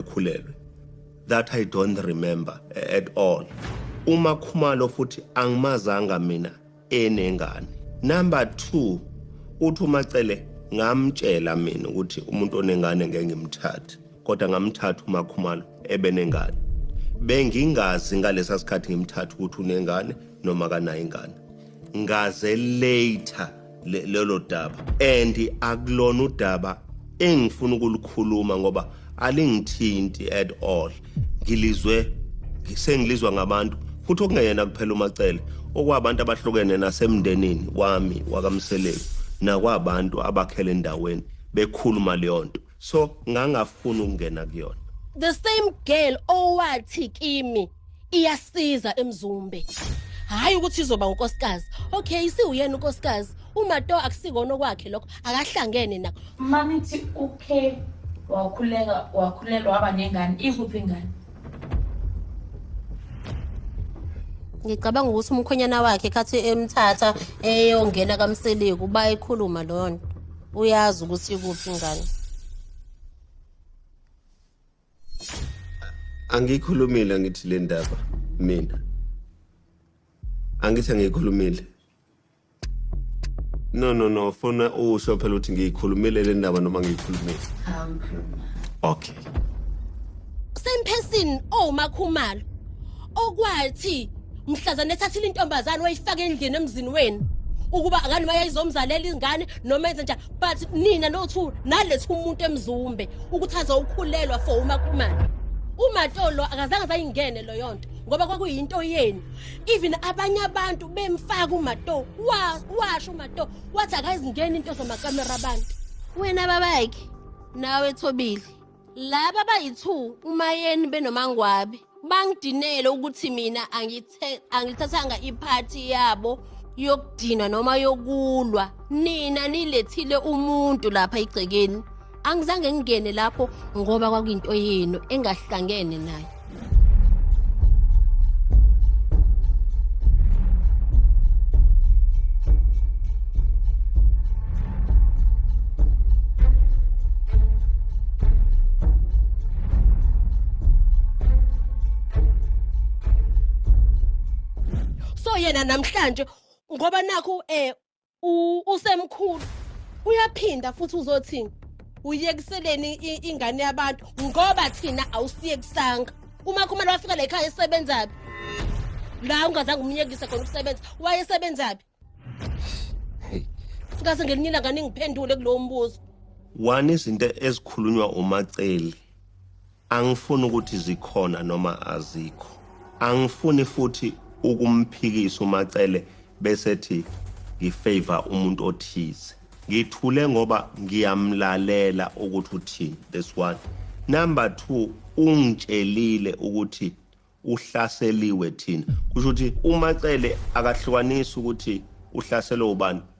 ukhulelwe that i don't remember at all uma khumalo futhi angimazanga mina enengane number 2 uthi umacele ngamtshela mina ukuthi umuntu onengane ngeke ngimthathe kodwa ngamthatha umakhumalo ebenengane bengingazi ngalesa sikhathi ngimthatha ukuthi unengane noma kanayo ingane ngaze later lelo daba and akulona udaba engifuna ukulikhuluma ngoba alingithinti at all ngilizwe sengilizwa ngabantu futhi okungeyena kuphela umacele okwabantu abahlukene nasemndenini wami wakamseleku nakwabantu abakhele endaweni bekhuluma leyo nto so ngangafuni ukungena kuyona the same girl owathi kimi iyasiza emzumbe hayi ukuthi izoba unkosikazi okay isiwuyena unkosikazi umato akusikona okwakhe lokho akahlangene nakho mamithi ukhe wakhuleka wakhulelwa waba nengane ikuphi ingane ngicabanga ukuthi umkhwenyana wakhe khathi emthatha eyongena kamseleku bayikhuluma leyo nto uyazi ukuthi ikuphi ngane angiyikhulumile angithi le ndaba mina angithi angiyikhulumile no no no funa usho phela ukuthi ngiyikhulumile le ndaba noma ngiyikhulumile okay same person owumakhumalo oh, okwathi mhlazane ethathile intombazane wayifaka endlini emzini wenu ukuba ngani bayayizomzalela izingane noma enze njani but nina nothu nalethu umuntu emzumbe ukuthi azowukhulelwa for umakhumalo umatolo akazange zayingene loyo nto ngoba kwakuyinto yenu even abanye abantu bemfaka umato washo umato wathi akayizingeni into zamakamera abantu wena babakhe nawe thobile laba bayi-two umayeni benomangwabe bangidinele ukuthi mina angithathanga iphathi yabo yokudinwa noma yokulwa nina nilethile umuntu lapha egcekeni angizange ngingene lapho ngoba kwakuyinto yenu engahlangene nayo so yena namhlanje ngoba nakho eh usemkhulu uyaphinda futhi uzothini uyekiseleni ingane yabantu ngoba thina awusiyekisanga uma khumele wafika la ekhaya esebenzaphi la ungazange umyekise khona ukusebenza wayesebenzaphi ngase ngelinye ilanga ningiphendule kulowo mbuzo one izinto ezikhulunywa umaceli Angifuni ukuthi zikhona noma azikho. Angifuni futhi ukumphikisa uMacele bese thi ngifavor umuntu othize. Ngithule ngoba ngiyamlalela ukuthi uthini. This one. Number 2 ungitshelile ukuthi uhlaseliwe thina. Kusho ukuthi uMacele akahlukanisi ukuthi uhlaselwe ubani.